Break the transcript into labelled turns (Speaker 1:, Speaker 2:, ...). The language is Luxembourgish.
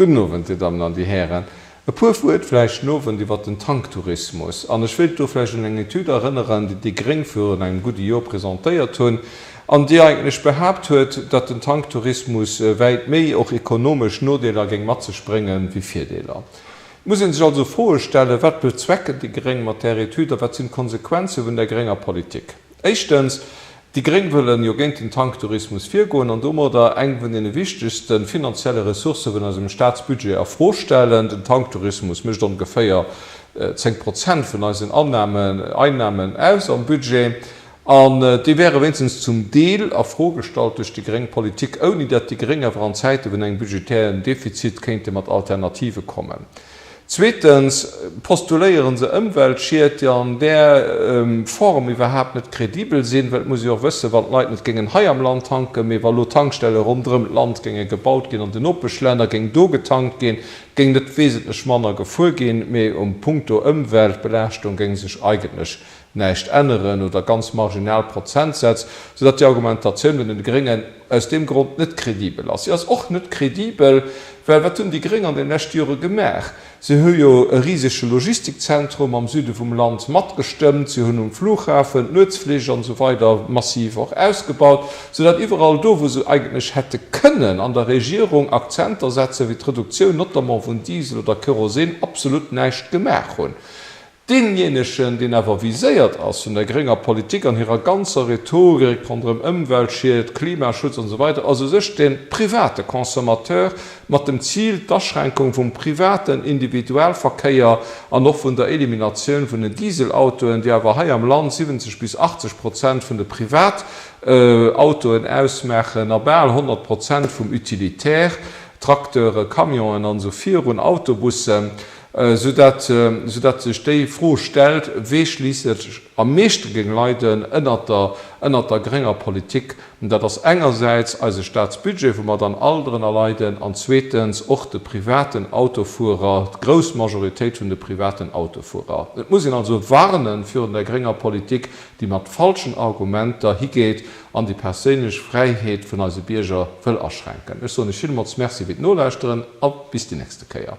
Speaker 1: Gudden Owend, Dir Dammen an Dir Hären. E puer Wuert vläicht den Owend iwwert den Tanktourismus. An ech wéilt do vläicht un eng Etüd erënneren, déi déi gréng virun engem gudde Jor presentéiert hunn an déi eigentlech behaapt huet, datt den Tanktourismus wäit méi och ekonomesch Nodeeler géing mat sech brénge wéi Virdeeler. Et muss ee sech also Froe stellen, Wat bezwecken déi gréng mat där Etüd a wat sinn d'Konsequenze vun där grénger Politik? Éischtens, Déi Gréng wëllen jo géint den Tanktourismus virgoen an domadder eng vun deene wichtegste finanzielle Ressourcë vun eisem Staatsbudget a Fro stellen. Den Tanktourismus mécht ongeféier 10 Prozent vun eisen Annahmen, Einnahmen, aus am Budget an déi wäre wéinstens zum Deel a Fro gestallt duerch déi gréng Politik, ouni datt déi Gréng awer an Zäite vun engem budgetären Defizit kéinte mat Alternative kommen. Zweetens postuléieren se Ëmweltschied, déi an där Form iwwerhaapt net kredibel sinn, well et muss ee jo och wëssen, wann d'Leit net géingen hei am Land tanken, mee wa lo Tankstelle ronderëm d'Land géinge gebaut ginn, an den Nopeschlänner, géing do getankt ginn, géing net wesentlech manner gefuer ginn, mee um Punkto Ëmweltbelaaschtung géing sech eigentlech näischt änneren oder ganz marginal Prozentsätz, soudatt déi Argumentatioun vun den Gréngen aus deem Grond net kredibel ass. Si ass och net kredibel, well wat hunn déi Gréng an den leschte Jore gemaach? Si hu jo e risege Logistikzentrum am Süde vum Land matgestëmmt, si hunn um Flughafen d'Nuetsflich an esou weider massiv och ausgebaut, soudatt iwwerall do, wou se eigentlech hätte kënnen an der Regierung Akzenter setzen, wéi d'Reduktioun notamment vun Diesel oder Kerosin, absolut näischt gemaach hunn. Deenjéinegen, deen awer viséiert ass vun der grénger Politik an hirer ganzer Rhetorik ronderëm Ëmweltschied, Klimaschutz an esou weider, ass u sech de private Consommateur, mat dem Zil, d'Aschränkung vum privaten Individualverkéier an och vun der Eliminatioun vun den Dieselautoen, déi awer hei am Land 70 bis 80 Prozent vun de Privatautoen ausmaachen a bal 100 Prozent vum Utilitaire, Trakteure, Camionen an esou virun, Autobussen. Soudatt sech déi Fro stellt, wee schliisslech am meeschte géing leiden ënnert der grénger Politik. Dat ass engersäits eise Staatsbudget, wou mer dann all drënner leiden, an zweetens och de privaten Autofuerer, d'grouss Majoritéit vun de privaten Autofuerer. Et muss een also warnen virun der grénger Politik, déi mat falschen Argumenter higeet, an déi perséinlech Fräiheet vun eise Bierger wëll aschränken. Ech soen Iech villmools Merci fir d'Nolauschteren a bis déi nächste Kéier.